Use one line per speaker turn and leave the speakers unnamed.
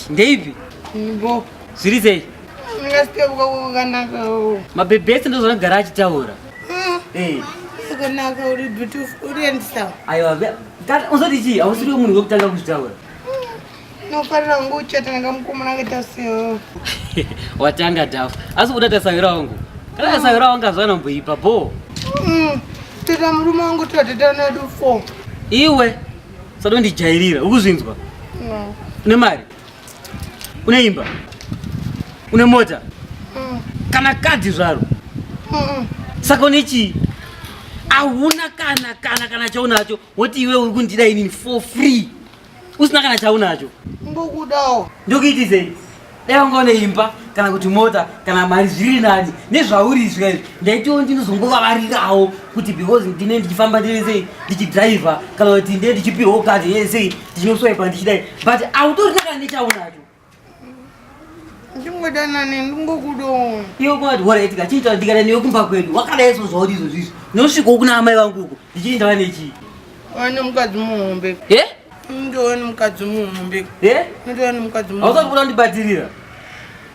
ndeipi bo
zviri sei mabhebhi ese
ndozvanogara achitaura akanaka
uri beautiful uri handsome aiwa Kana
uzoti chii hausiriwe munhu wekutanga kuzvitaura.
Nofarira kunge uchata nanga mukomana akaita seo.
Watanga dhafu. Asi kuda tasavira wangu. Kana tasavira wangu azvana mboipa bho. Mm.
Teta murume wangu tateta nedu 4. Iwe
sadondijairira ukuzvinzwa. No.
Nemari.
Une imba? Une mota? Mm. Kana kadhi zvaro? Mm. Saka une chii? Hauna kana kana kana chaunacho woti iwe uri kundida inini for free usina kana chaunacho. Ndokudawo.
Ndokuiti sei?
Dai wanga une imba kana kuti mota kana mari zviri nani nezvauri izvi ndaitiwo ndinozongovavarirawo kuti because ndine ndichifamba ndine sei ndichidriver kana kuti ndine ndichipirwawo kati ye sei ndichinoswaipa ndichidai but autorina kana nechaunacho
ndingodanane ndingokudoona iwe kwati waraitika
chiita ndikada newe kumba kwedu wakadai so zvauri izvozvo izvo ndinosvikawo kuna amai vangu uko ndichii ndava nechii wane mukadzi
muhombe e ndowani mukadzi muhombe e ndowani mukadzi muhombe ausa kuda ndibatirira